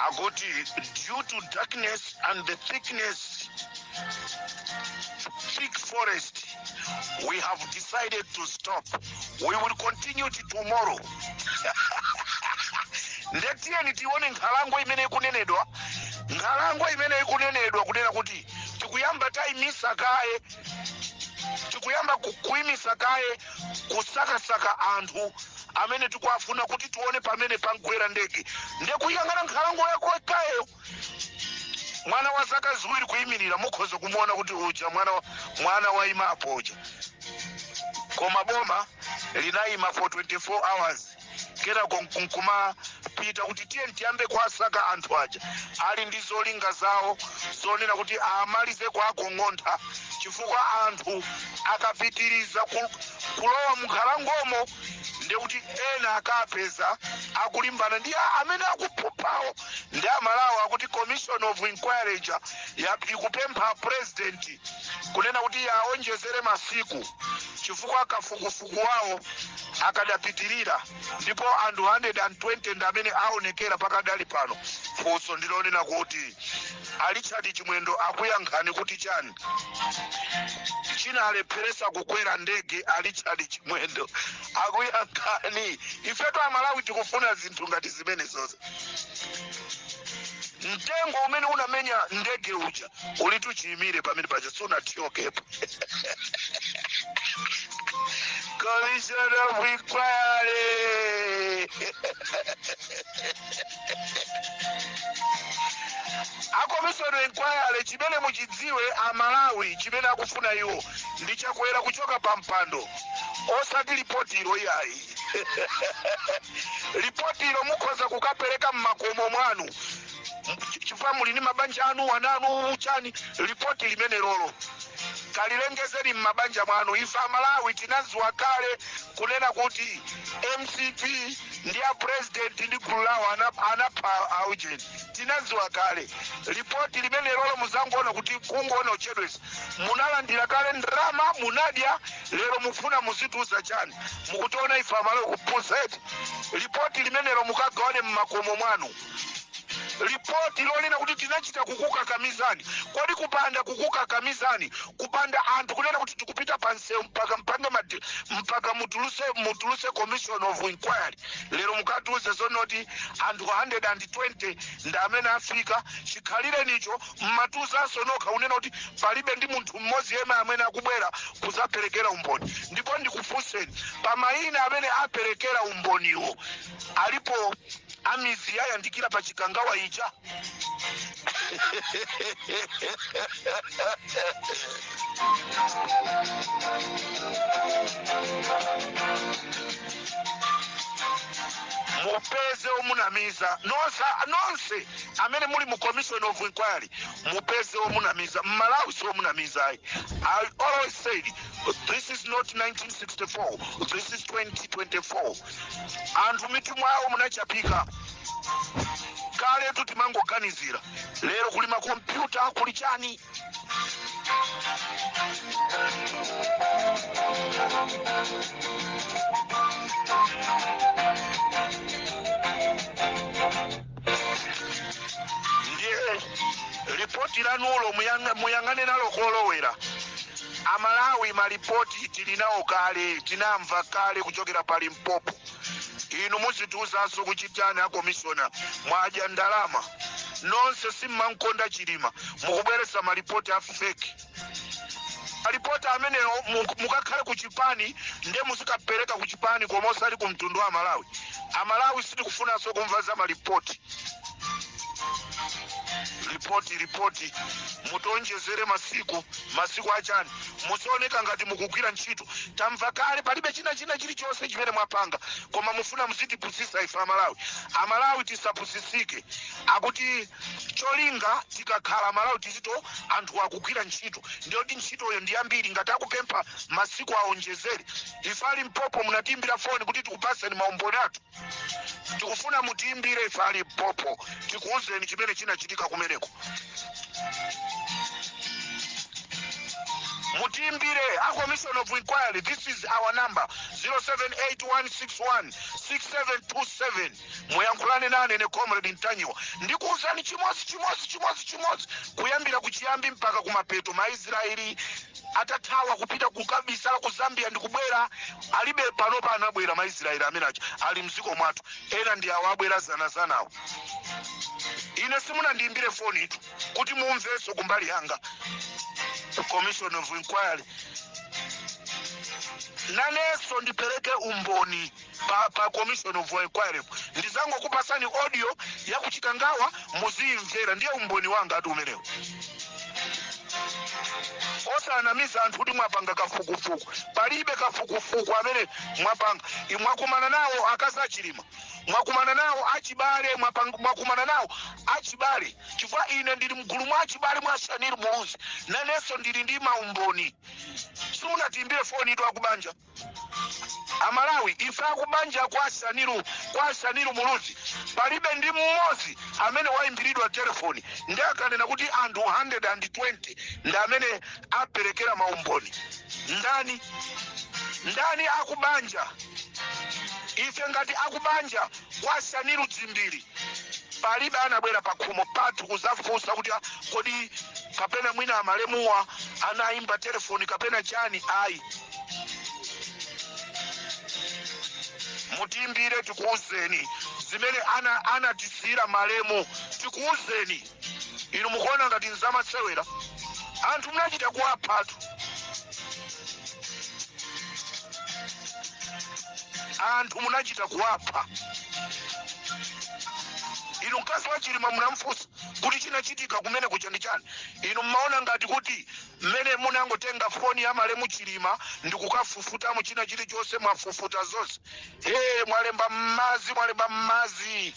akuti due to darkness and the thickness thick forest we have decided to stop we will continue tomorrow nde tiyeni tione nkhalango imene ikunenedwa nkhalango imene ikunenedwa kunena kuti tikuyamba tayimisa kaye tikuyamba ku- kuyimisa kaye kusakasaka anthu amene tikuwafuna kuti tione pamene pangwera ndege nde kuyang'ana nkhalango yakeyo mwana wa zaka ziwiri kuyimirira mukhoza kumuona kuti uja mwana wa- mwana wayimapo uja koma boma linayima for 24 hours kenako nku- nkumapita kuti tiye tiyambe kuwasaka anthu aja ali ndi zolinga zawo zonena kuti amalize kuwakong'ontha chifukwa anthu akapitiriza ku- kulowa munkhalangomo ndekuti ena akapeza akulimbana ndi a- amene akuphuphawo ndi amalawo akuti commission of inquiry ija ya- ikupempha president kunena kuti iye aonjezere masiku chifukwa kafukufuku wawo akadapitirira ndipo anthu 120 ndi amene aonekera pakadali pano funso ndilonena kuti a Richard Chimwendo akuyankhanji kuti chani chinawalepheresa kukwera ndege a Richard Chimwendo akuyankhanji ifetu amalawi tikufuna zinthu ngati zimenezozo mtengo umene unamenya ndege uja ulitu chiyimire pamene paja sunathyokepo commission of inquiry a commission of inquiry chimene muchidziwe amalawi chimene akufuna iwo ndi chakwera kuchoka pa mpando osati lipoti ilo iyayi lipoti ilo mukhoza kukapereka mmakomo mwanu Ch- chifukwa muli ndi mabanja anu ana anu chani lipoti limenelolo kalilengezeni m'mabanja mwanu ife amalawi tinaziwa kale kunena kuti mcp ndi a president ndi gulu lawo ana- anapha aujeni tinaziwa kale lipoti limenelolo muzangoona kuti kungoona kuchedwesa munalandira kale ndrama munadya lero mufuna muzituza chani mukutiona ife amalawi kupusa eti lipoti limenelo mukagawane m'makomo mwanu lipoti lonena kuti tinachita kukukakamizani kodi kupanda kukukakamizani kupanda anthu kunena kuti tikupita pa msewu mpaka mpange madi- mpaka mutuluse mutuluse commission of inquiry lero mukatiuze zonoti anthu 120 ndi amene afika chikhalirenicho mmatiuzanso nokha kunena kuti palibe ndi munthu mmodzi yemwe amene akubwera kuzaperekera umboni ndipo ndikufunseni pa mayina amene aperekera umboniwo alipo a Mizi yayandikira pa chikangawa ija mupeze omunamiza nonse nonse amene muli mu commission of inquiry mupeze omunamiza Mmalawi si omunamiza ayi i always said this is not 1964 this is 2024 anthu mitu mwawo munachapika kaletu timangoganiza lero kuli makompyuta kuli chani ndiye lipoti lanulo muyang- muyang'ane nalo kolowera amalawi malipoti tili nawo kale tinamva kale kuchokera pa limpopo inu muzitiuzanso kuchitani a komishona mwadya ndalama nonse simmankonda chilima mukubweretsa malipoti a feki malipoti amenewo mu- mukakhale ku chipani nde muzikapereka ku chipani koma osati ku mtundu wa amalawi amalawi sitikufunanso kumva za malipoti ripoti ripoti mutionjezere masiku masiku achani muzioneka ngati mukugwira ntchito tamva kale palibe china china chilichonse chimene mwapanga koma mufuna muzitipusisa ife amalawi amalawi tisapusisike akuti cholinga tikakhala amalawi tiziti anthu akugwira ntchito ndiye kuti ntchitoyo ndi yambiri ngati akupempha masiku aonjezere ife a limpopo munatiimbira foni kuti tikupaseni maumboni athu tikufuna mutiimbire ife a limpopo tikuwuzeni chimene chinachitika kumeneko mutiimbire a commission of inquiry this is our number 0781616727 muyankhulane nane ine comrade ntanyiwa ndikuwuzani chimodzi chimodzi chimodzi chimodzi kuyambira kuchiyambi mpaka kumapeto maisraeli atathawa kupita kukabisala ku zambia ndikubwera aliko panopa anabwera maisraeli amene aja ali mdziko mwathu ena ndi awo abwera zanazanawo ine simunandiyimbire fonitu kuti mumvenso kumbali yanga commission of inquiry nanenso ndipereke umboni pa, pa commission of inquiry ndidzangokupatsani audio ya kuchikangawa muziyimvera ndiye umboni wanga ati umenewo osanamiza anthu kuti mwapanga kafukufuku palibe kafukufuku amene mwapanga I- mwakumana nawo akazi a chilima mwakumana nawo achibale mwapang- mwakumana nawo achibale chifukwa ine ndili mgulu mwa achibale mwa shanil muluzi nanenso ndili ndi maumboni simunatiimbire fonitu akubanja amalawi ife akubanja kwa shanil kwa shanil muluzi palibe ndi mmodzi amene waimbiridwa telefoni nde akanena kuti anthu 120 ndi amene aperekera maumboni ndani ndani akubanja ife ngati akubanja kwa shanil dzimbiri palibe anabwera pakhomo pathu kuzafunsa kuti "Ah, kodi kapena mwina malemuwa anayimba telefoni kapena chani ayi mutiimbire tikuuzeni zimene ana anatisiyira malemu tikuuzeni inu mukuona ngati nzamasewera anthu munachita kuwaphatu anthu munachita kuwapha inu mkazi wa chilima munamfunsa kuti chinachitika kumeneku chani ndi chani inu mmaona ngati kuti Mmene munangotenga foni ya malemu chilima ndikukafufutamo china chilichonse mwafufuta zonse ee mwalemba mmadzi mwalemba mmadzi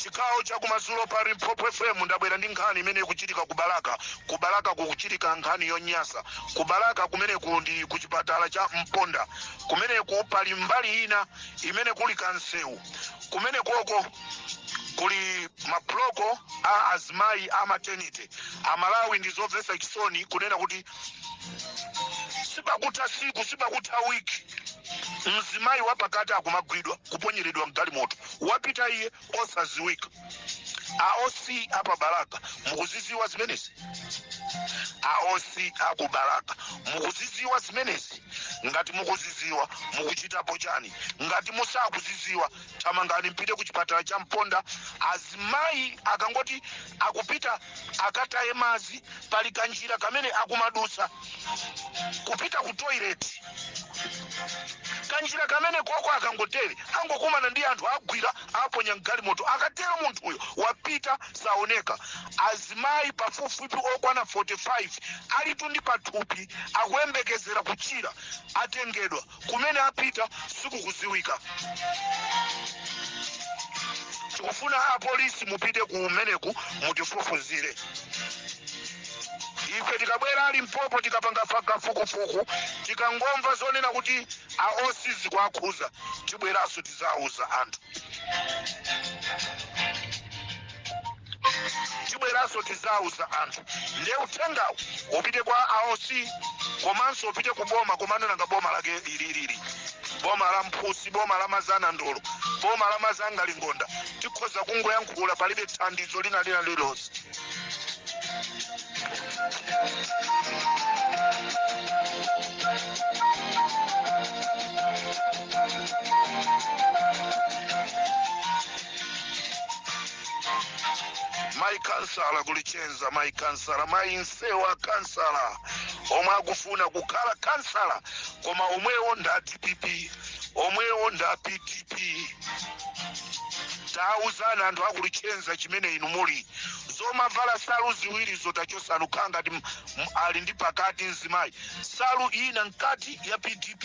chigawo chakumadzulo pa limpopo fm ndabwera ndi nkhani imene ikuchitika ku balaka ku balaka kukuchitika nkhani yonyasa ku balaka kumeneku ndi ku chipatala cha mponda kumeneku pali mbali ina imene kuli kamsewu kumenekoko kuli mabloko a azimayi a maternity amalawi ndi zomvetsa chisoni kunena kuti sipakutha siku sipakutha wiki mzimayi wapakati akumagwidwa kuponyeredwa mgalimoto wapita iye osaziwika a oc a pa balaka mukuziziwa zimenezi a oc a ku balaka mukuziziwa zimenezi ngati mukuziziwa mukuchitapo chani ngati musakuziziwa thamangani mpite ku chipatala cha mponda azimayi akangoti akupita akataye madzi pali kanjira kamene akumadutsa kupita ku toileti kanjira kamenekoko akangotere angokumana ndi anthu agwira aponya mgalimoto akatero munthuyo wapita saoneka azimayi pafupifupi okwana 45 alitu ndi pathupi akuyembekezera kuchira atengedwa Kumene apita sikukuziwika. Tikufuna apolisi mupite kumeneku mutifufuzire. Ife tikabwera a Limpopo tikapanga fa- kafukufuku tikangomva zonena kuti a OC zikuwakhuza tibweranso tizauza anthu. tibweranso tizauza anthu ndiye uthengawo upite kwa a oc komanso upite ku boma komano nanga boma lake lililili boma la mphusi boma la mazana ndolo boma la mazanga lingonda tikhoza kungoyankhula palibe thandizo lina lina lilonse mayi kansala ku lichenza mayi kansala mayi nsewa kansala omwe akufuna kukhala kansala koma omwewo ndi a dpp omwewo ndi a pdp tauzani anthu a ku lichenza chimene inu muli zomavala salu ziwirizo tachosani mukhala ngati m- m- ali ndi pakati mzimayi salu ina mkati ya pdp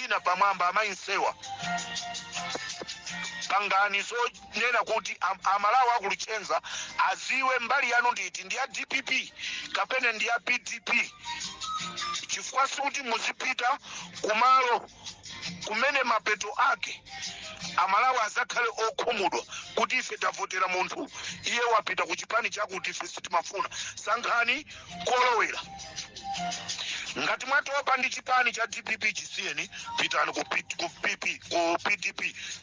ina pamwamba amayi nsewa pangani zonena kuti am- amalawi a ku lichenza aziwe mbali yanu ndi iti ndi ya dpp kapena ndi ya pdp chifukwa sikuti muzipita kumalo kumene mapeto ake amalawi azakhale okhumudwa kuti ife tavotera munthu iye wapita ku chipani chakuti ife sitimafuna sankhani kolowera ngati mwatopa ndi chipani cha dpp chisiyeni pitani ku P- ku pp ku pdp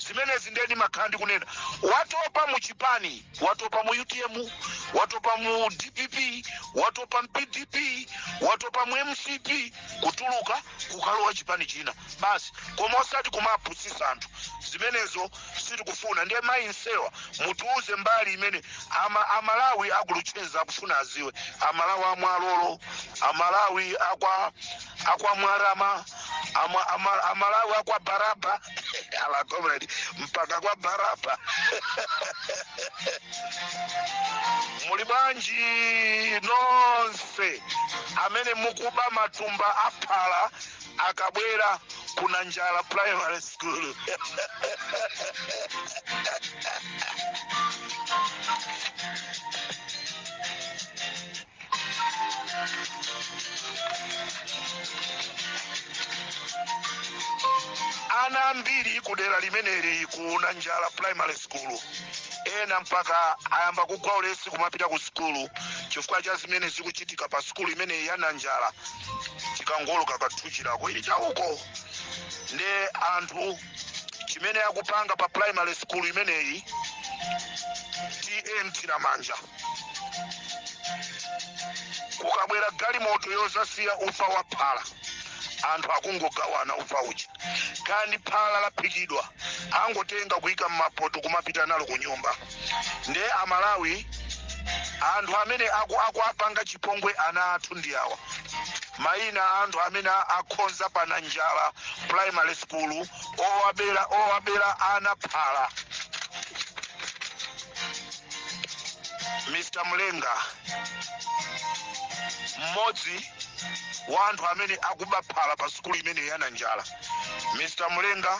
zimenezi nde nimakhala ndikunena watopa mu chipani watopa mu utm watopa mu dpp watopa mu pdp watopa mu mcp kutuluka kukalowa chipani china basi koma osati kumapusisa anthu zimenezo sitikufuna ndiye mayi nsewa mutiuze mbali imene ama, amalawi a ku luchenza akufuna aziwe amalawi amwalolo amalawi akwa akwa mwarama ama, ama, amalawi akwa baraba ala comrade mpaka kwa baraba muli bwanji nonse amene mukuba matumba a phala akabwera ku nanjala primary school ana ambiri kudera limeneli ku nanjala primary school ena mpaka ayamba kugwa ulesi kumapita ku sukulu chifukwa cha zimene zikuchitika pa sukulu imeneyi ya nanjala tikangooloka ka thuchilako ili chauko nde anthu chimene akupanga pa primary school imeneyi ta nthiramanja kukabwera galimoto yozasiya ufa wa phala anthu akungogawana ufa uja kaya ndi phala laphikidwa angotenga kuyika m'mapoto kumapita nalo ku nyumba ndiye amalawi anthu amene aku- akuwapanga chipongwe ana athu ndi awa mayina a anthu amene a- akhonza pa nanjala primary school owabera ana phala mr mlenga mmodzi wa anthu amene akuba phala pa sukulu imene ya nanjala mr mlenga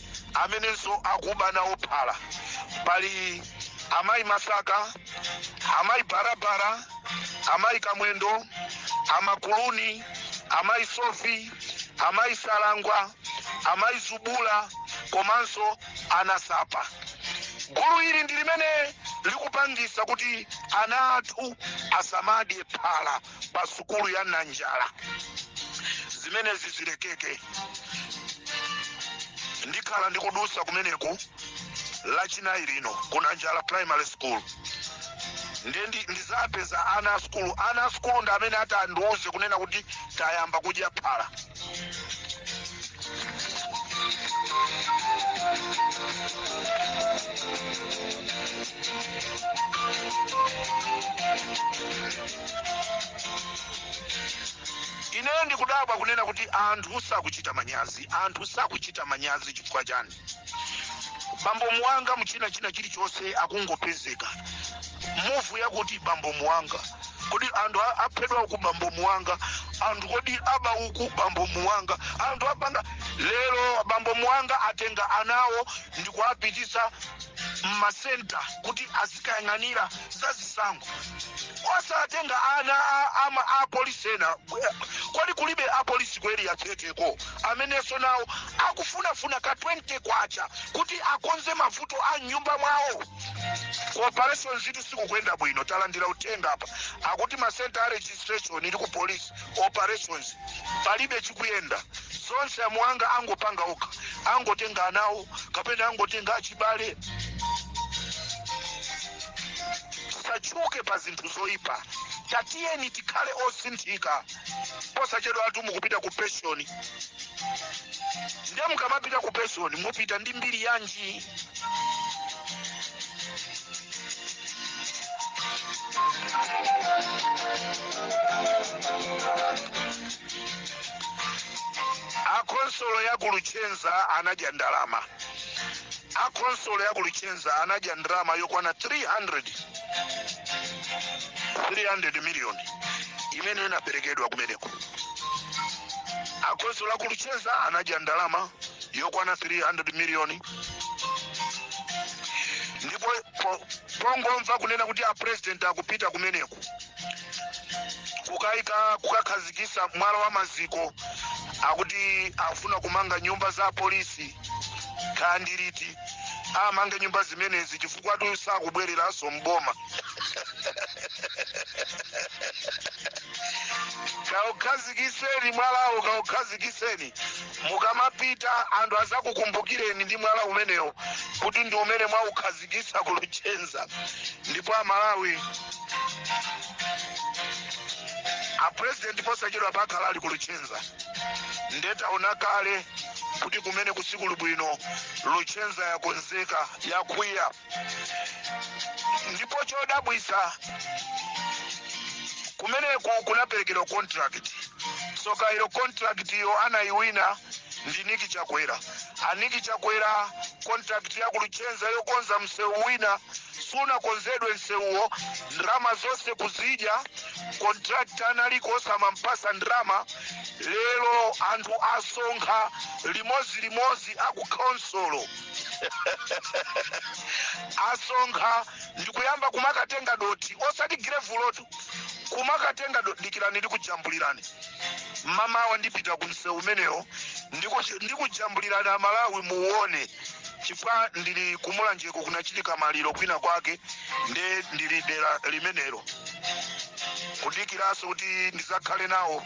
amenenso akuba nawo phala pali amayi masaka amayi barabara amayi kamwendo amakuluni amayi sofi amayi salangwa amayi zubula komanso anasapa gulu ili ndi limene likupangisa kuti ana athu asamadye phala pa sukulu ya nanjala zimenezi zilekeke ndikhala ndikudusa kumeneku lachinayi lino ku nanjala primary school ndiye ndi- ndizapeza ana a sukulu ana a sukulu ndi amene ati andiuze kunena kuti tayamba kudya phala ine ndikudabwa kunena kuti anthu sakuchita manyazi anthu sakuchita manyazi chifukwa chani bambo muwanga muchina china chilichonse akungopezeka mumve yakuti bambo muwanga kodi anthu a- aphedwa uku bambo muwanga anthu kodi aba uku bambo muwanga anthu apanga lero bambo muwanga atenga anawo ndi kuwapitisa mmasenta kuti azikayang'anira za zisankho osatenga ana a- ama apolisi ena kodi kulibe apolisi kweli yatheteko amenenso nawo akufunafuna ka 20 kwacha kuti akonze mavuto a mnyumba mwawo ku operations zinthu sizikuyenda bwino talandira uthenga apa akuti masenta a registration ili ku police operations palibe chikuyenda zonse amuwanga angopanga okha angotenga anawo kapena angotenga achibale tisatchuke pa zinthu zoyipa tatiyeni tikhale osinthika posachedwapatu mukupita ku pension ndiye mukamapita ku pension mupita ndi mbiri yanji akonsolo ya ku luchenza anadya ndalama akonsolo ya ku luchenza anadya ndalama yokwana 300 300 million imene inaperekedwa kumeneko a khonsolo a ku luchenza anadya ndalama yokwana 300 million ndipo po- pongomva kunena kuti a president akupita kumeneko kukaika kukakhazikisa mwala wa maziko akuti afuna kumanga nyumba za polisi ka ndi liti amange nyumba zimenezi chifukwatu sakubwereranso mboma kaukhazikiseni mwalawo kaukhazikiseni mukamapita anthu azakukumbukireni ndi mwala umenewo kuti ndi umene mwaukhazikisa ku luchenza ndipo amalawi apurezidenti posachedwapa akhala ali ku luchenza nde taona kale kuti kumeneku sikuli bwino luchenza yakonzeka yakwiya ndipo chodabwisa kumeneku kunaperekedwa contract tsoka ilo contract iyo anayiwina ndi niki chakwera a niki chakwera contract ya ku luchenza yokonza msewu wina sunakonzedwe nsewuwo ndrama zonse kuzidya contract analiko osamampasa ndrama lero anthu asonkha limodzi limodzi a ku khonsolo asonkha ndikuyamba kumakatenga dothi osati girevulotu kumakatenga dothi dikirani ndikujambulirani mamawa ndipita ku msewu umenewo ndiku- ndikujambulirani amalawi muone chifukwa ndili ku mulanjeko kunachitika maliro kwina kwake nde ndili dera limenelo kudikiranso kuti ndizakhale nawo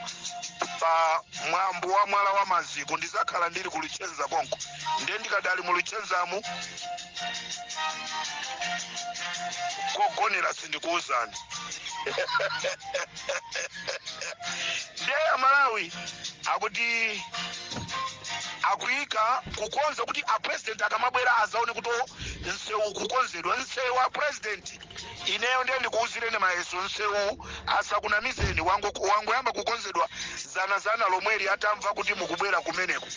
pa mwambo wa mwala wa maziko ndizakhala ndili ku luchenza konko nde ndikadali mu luchenzamu kogonera sindikuwuzani ndiye amalawi akuti akuyika kukonza kuti a president akamabwera azaone kuti o, nsewu kukonzedwa nsewu a president ineyo ndiye ndikuwuzireni mayeso nsewu asakunamizeni wango- wangoyamba kukonzedwa zanazana lomweli atamva kuti mukubwera kumeneko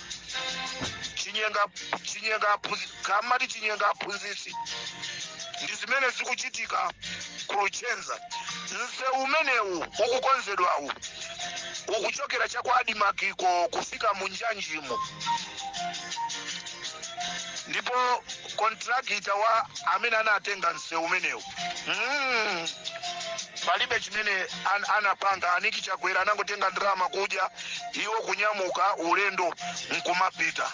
chinyenga chinyenga aphunzi- kamati chinyenga aphunzitsi ndi zimene zikuchitika ku luchenza msewu umenewu ukukonzedwawu ukuchokera cha kwa adimakiko kufika mu njanjimo ndipo kontrakitawa amene anatenga msewu umenewu mm. palibe chimene an, anapanga a niki chakwera anangotenga ndalama kudya iwo kunyamuka ulendo nkumapita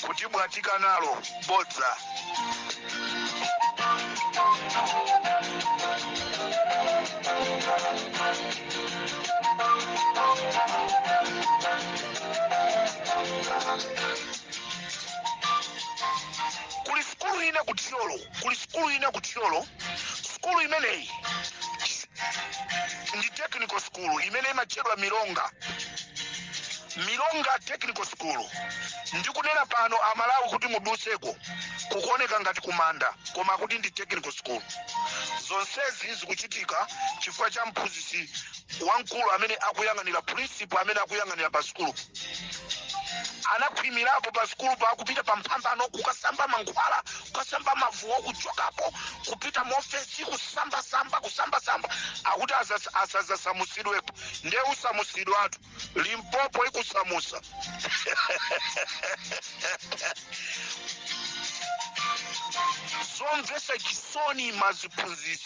kutibwatika nalo bodza kuli sikulu ina ku thyolo kuli sukulu ina ku thyolo sukulu imeneyi ndi technical school imene imatchedwa milonga milonga technical school ndikunena pano amalawi kuti mudutseko kukuoneka ngati kumanda koma kuti ndi technical school zonsezi zikuchitika chifukwa cha mphunzitsi wamkulu amene akuyang'anira principal amene akuyang'anira pa sukulupa anakhwimirapo pa sukulupa kupita pa mphambano kukasamba mankhwala kukasamba mavuwo kuchokapo kupita mofesi kusambasamba kusambasamba akuti asas- asazasamusidwepo nde usamusidwatu limpopo ikusamusa zomvesa chisoni maziphunzitsi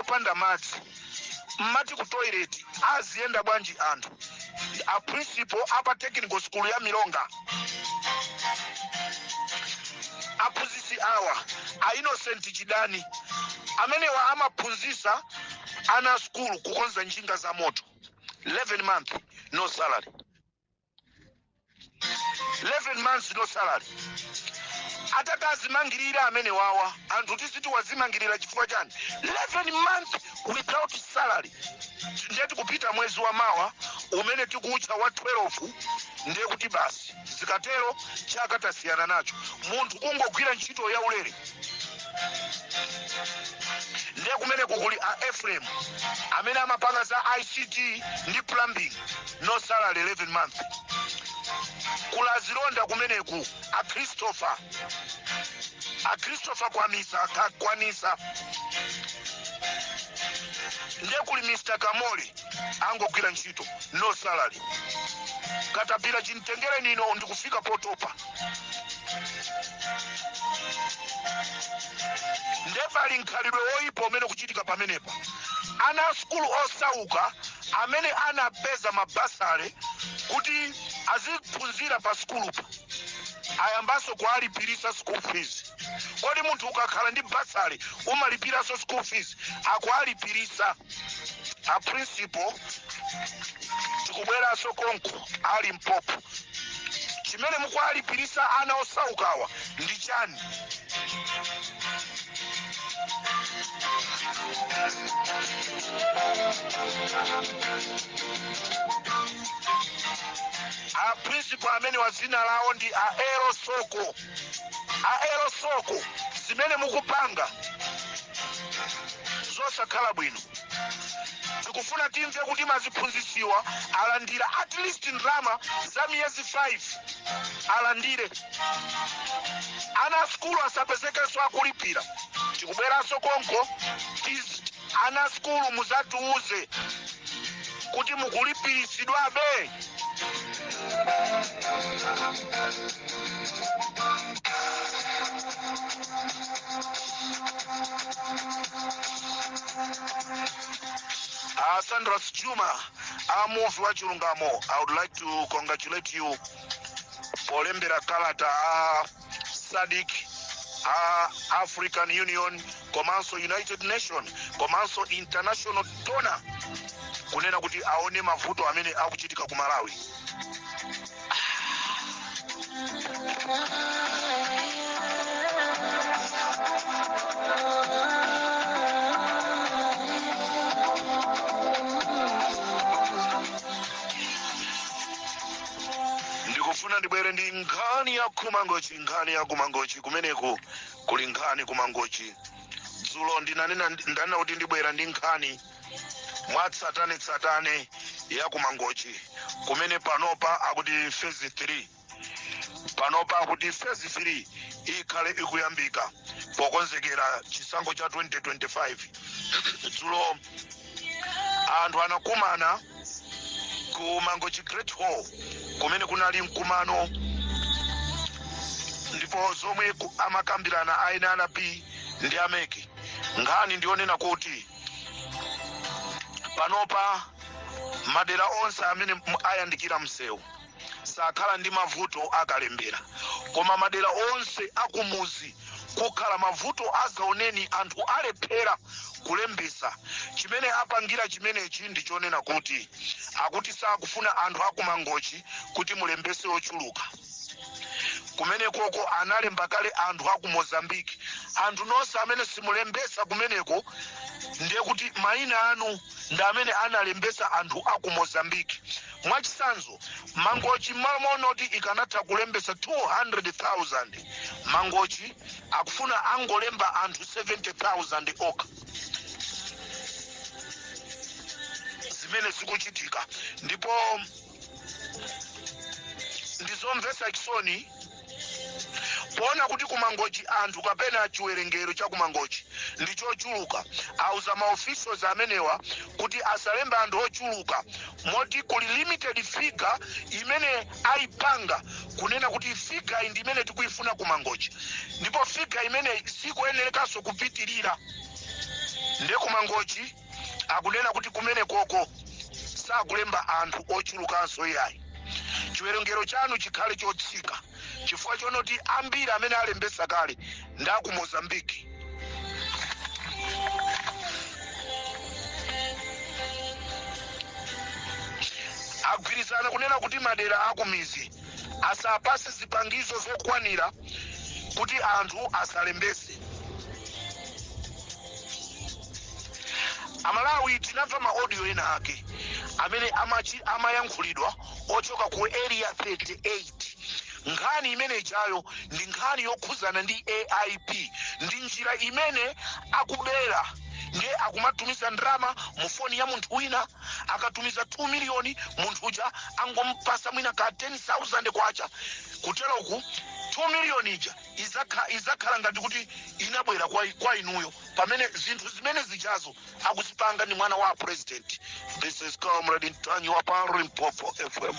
opanda madzi mmati ku toilet aziyenda bwanji anthu a principal a pa technical school ya milonga aphunzitsi awa a innocent chidani amenewa amaphunzitsa ana a skulu kukonza njinga za moto 11 month no salary 11 months no salary atakazimangirira amene wawa anthu tiziti wazimangirira chifukwa chani 11 months without salary ndiye tikupita mwezi wa mawa umene tikuutcha wa 12 ndiye kuti basi zikatero chaka tasiyana nacho munthu kungogwira ntchito ya ulere ndiye kumene kukuli a efrem amene amapanga za ict ndi plumbing no salary 11 month kuli azilonda kumeneku a christopher a christopher kwamisa ka- kwanisa nde kuli mr kamoli angogwira ntchito no salary katapira chimtengereni no ndikufika potopa nde pali mkhalidwe woyipa umene ukuchitika pamenepa ana a sukulu osauka amene anapeza mabasale kuti aziphunzira pa sukulupa ayambanso kuwalipirisa school fees kodi munthu ukakhala ndi basale umalipiranso school fees akuwalipirisa a principal tikubweranso konko a limpopo chimene mukuwalipirisa ana osaukawa ndi chani a principal amene wa dzina lawo ndi a elo soko aelo soko zimene mukupanga zosakhala bwino tikufuna timve kuti maziphunzitsiwa alandira at least ndalama za miyezi 5 alandire ana a sukulu asapezekenso akulipira tikubweranso konko tiz- Ana sukulu muzatiuze kuti mukulipiritsidwabe? Uh, Sandras Juma, a Muvi wa Chilungamo. I would like to congratulate you polembera kalata a sadc a african union komanso united nation komanso international donor kunena kuti aone mavuto amene akuchitika ku malawi ndikufuna ndibwere ndi nkhani ya kumangochi nkhani ya kumangochi kumeneku kuli nkhani kumangochi dzulo ndinanena kuti ndibwera ndi nkhani mwatsatanetsatane ya kumangochi kumene panopa akuti phase 3 panopa akuti phase 3 ikhale ikuyambika pokonzekera chisankho cha 2025 dzulo anthu anakumana ku mangochi great hall kumene kunali mkumano ndipo zomwe ku- amakambirana a nrb ndi a mec nkhani ndiyonena kuti panopa madera onse amene m- ayandikira msewu sakhala ndi mavuto akalembera koma madera onse akumuzi kukhala mavuto azaoneni anthu alephera kulembesa chimene apangira chimenechi ndi chonena kuti akuti sakufuna anthu akumangochi kuti mulembese ochuluka kumenekoko analemba kale anthu aku mozambique anthu nonse amene simulembesa kumeneko ndiye kuti mayina anu ndi amene analembesa anthu aku mozambique Mwachitsanzo, Mangochi mmalo monena kuti ikanatha kulembetsa 200,000, Mangochi akufuna angolemba anthu 70,000 okha. Zimene zikuchitika ndipo ndi zomvetsa chisoni. Poona kuti ku Mangochi anthu kapena chiwerengero cha ku Mangochi ndi chochuluka, auza ma officials amenewa kuti asalembe anthu ochuluka moti kuli limited figure imene aipanga kunena kuti figure iyi ndi imene tikuifuna ku Mangochi ndipo figure imeneyi sikuyenerekanso kupitirira nde ku Mangochi akunena kuti kumenekoko sakulemba anthu ochulukanso iyayi chiwerengero chanu chikhale chotsika chifukwa chonoti ambiri amene alembesa kale ndi aku Mozambique agwirizana kunena kuti madera akumizi asapase zipangizo zokwanira kuti anthu asalembese amalawi tinamva ma audio ena ake amene amachi- amayankhulidwa ochoka ku area 38 nkhani imene ijayo ndi nkhani yokhuzana ndi aip ndi njira imene akubera ndiye akumatumiza ndalama mu foni ya munthu wina akatumiza 2 miliyoni munthu uja angompasa mwina ka 10000 kwacha kuteroku 2 miliyoni ija izakha- izakhala ngati kuti inabwera kwa, kwa inuyo pamene zinthu zimene zijazo akuzipanga ndi mwana wa president this is comrade Ntanyiwa pa limpopo fm